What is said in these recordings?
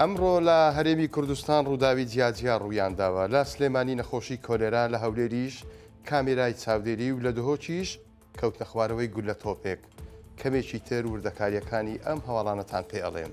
ئەمڕۆ لە هەرێمی کوردستان ڕووداوی جیاجیا ڕوویانداوە، لە سلێمانی نەخۆشی کۆلێرا، لە هەولێریش کامێرای چاودێری و لە دهۆکیش کەوتنەخوارەوەی گوللە تۆپێک. کەمێکی تر وردەکارییەکانی ئەم هەواڵانەتان پێ ئەڵێم.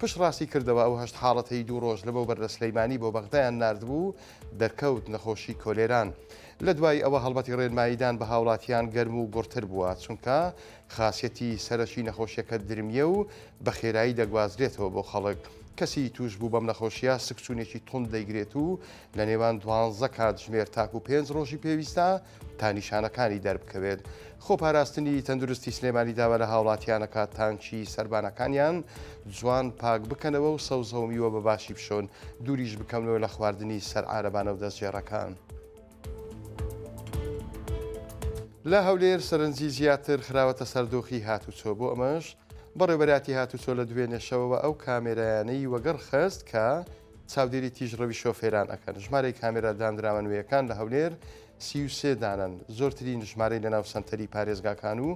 پشت ڕاستی کردەوە ئەو هەشت حاڵەتەی دوو ڕۆژ لەمەوبەر لە سلیمانی بۆ بەغدایان ناردبوو دەرکەوت نەخۆشی کۆلێران لە دوای ئەوە هەڵمەتی ڕێنماییدان بە هاوڵاتیان گەرم و گوڕتر بووە چونکە خاسیەتی سەرەکی نەخۆشیەکە درمیە و بە خێرایی دەگوازرێتەوە بۆ خەڵک کەسی توش بوو بەم نەخۆشیە سکچونێکی توند دەیگرێت و لە نێوان دوانزە کاتژمێر تاکو پێنج ڕۆژی پێویستە تا نیشانەکانی دەربکەوێت. خۆپاراستنی تەندروستی سلێمانی داوا لە هاوڵاتیانەکە تانکی سەربانەکانیان جوان پاک بکەنەوە و سەوزە و میوە بە باشی بشۆن دووریش بکەونەوە لە خواردنی سەر عارەبانە و دەستگێڕەکان. لە هەولێر سەرنجی زیاتر خراوەتە سەر دۆخی هاتوچۆ بۆ ئەمەش بەڕێوەبەراتی هاتوچۆ لە دوێنێ شەوەوە ئەو کامێرایانەی وەگەڕ خست کە چاودێری تیژڕەوی شۆفێران ئەکەن، ژمارەی کامێرا دانراوە نوێیەکان لە هەولێر سی و سێ دانەن، زۆرترین ژمارەی لەناو سەنتەری پارێزگاکان و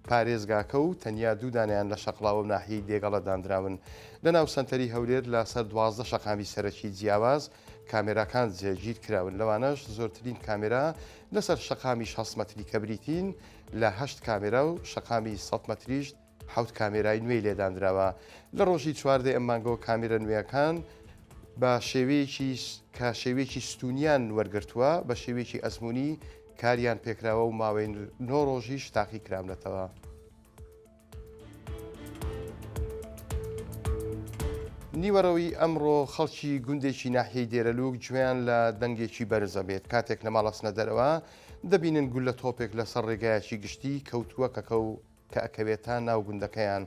پارێزگاکە و تەنیا دوو دانەیان لە شەقڵاوە و ناحیەی دێگەڵە داندراون، لەناو سەنتەری هەولێر لە سەر دوازدە شەقامی سەرەکی جیاواز کامێراکان جێگیرکراون، لەوانەش زۆرترین کامێرا لەسەر شەقامی شەست مەتری کە بریتین لە هەشت کامێرا و شەقامی سەد مەتریش حەوت کامێرای نوێی لێ داندراوە. لە ڕۆژی چواردە ی ئەم مانگەوە کامێرە نوێیەکان بە شێوەیەکی کە شێوەیەکی ستوونیان وەرگرتووە، بە شێوەیەکی ئەزموونی کاریان پێکراوە و ماوەی نۆ ڕۆژیش تاقی کراونەتەوە. نیوەڕۆی ئەمڕۆ خەڵکی گوندێکی ناحیەی دێرەلووک گوێیان لە دەنگێکی بەرز ئەبێت کاتێک لە ماڵ ئەچنە دەرەوە دەبینن گوللە تۆپێک لەسەر ڕێگایەکی گشتی کەوتووە کەکە و کە ئەکەوێتە ناو گوندەکەیان.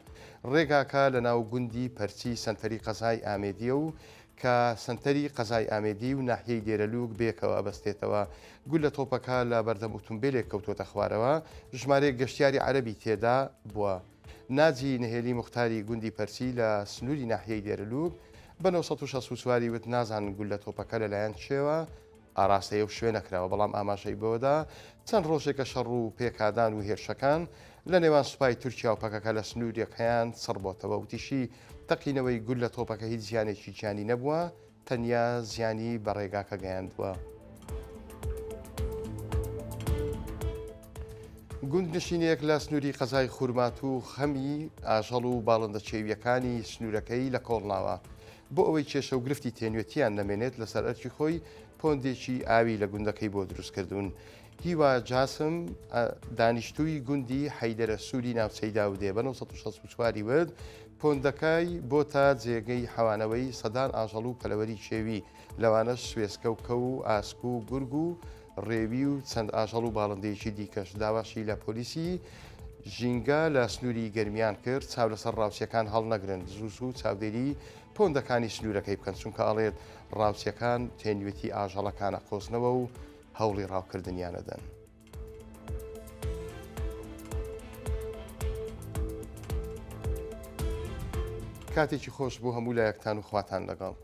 ڕێگاکە لە ناو گوندی پەرچی سەنتەری قەزای ئامێدییە و کە سەنتەری قەزای ئامێدی و ناحیەی دێرەلووک بەیەکەوە ئەبەستێتەوە. گوللە تۆپەکە لە بەردەم ئوتومبێلێک کەوتووەتە خوارەوە، ژمارەیەک گەشتیاری عەرەبی تێدا بووە. ناجی نەهێلی موختاری گوندی پەرچی لە سنووری ناحیەی دێرەلووک بە نۆ سەد و شەست و چوار ی وت، نازانن گوللە تۆپەکە لەلایەن کێوە ئاراستەی ئەو شوێنە کراوە، بەڵام ئاماژەی بەوەدا، چەند ڕۆژێکە شەڕ و پێکادان و هێرشەکان لە نێوان سوپای تورکیا و پەکەکە لە سنوورەکەیان چڕبۆتەوە، وتیشی، تەقینەوەی گوللە تۆپەکە هیچ زیانێکی گیانی نەبووە، تەنیا زیانی بە ڕێگاکە گەیاندووە. گوندنشینێک لە سنووری قەزای خورماتوو خەمی ئاژەڵ و باڵندە چێوییەکانی سنوورەکەی لە کۆڵناوە بۆ ئەوەی کێشە و گرفتی تێنوێتییان نەمێنێت لەسەر ئەرکی خۆی پۆندێکی ئاوی لە گوندەکەی بۆ دروست کردوون. هیوا جاسم دانیشتووی گوندی حەیدەرە سووری ناوچەی داودێ بە 1964 وت پۆندەکای بۆ تا جێگەی حەوانەوەی سەدان ئاژەڵ و پەلەوەری کێوی لەوانەش سوێسکە و کەو و ئاسک و گورگ و ڕێوی و چەند ئاژەڵ و باڵندەیەکی دیکەش. داواشی لە پۆلیسی ژینگە لە سنووری گەرمیان کرد چاو لەسەر ڕاوچیەکان هەڵنەگرن زوو زوو چاودێری پۆندەکانی سنوورەکەی بکەن چونکە ئەڵێت ڕاوچیەکان تێنوێتی ئاژەڵەکانە قۆزنەوە و هەوڵی ڕاوکردنیانەدەن. کاتێکی خۆش بۆ هەموو لایەکتان و خواتان لەگەڵ.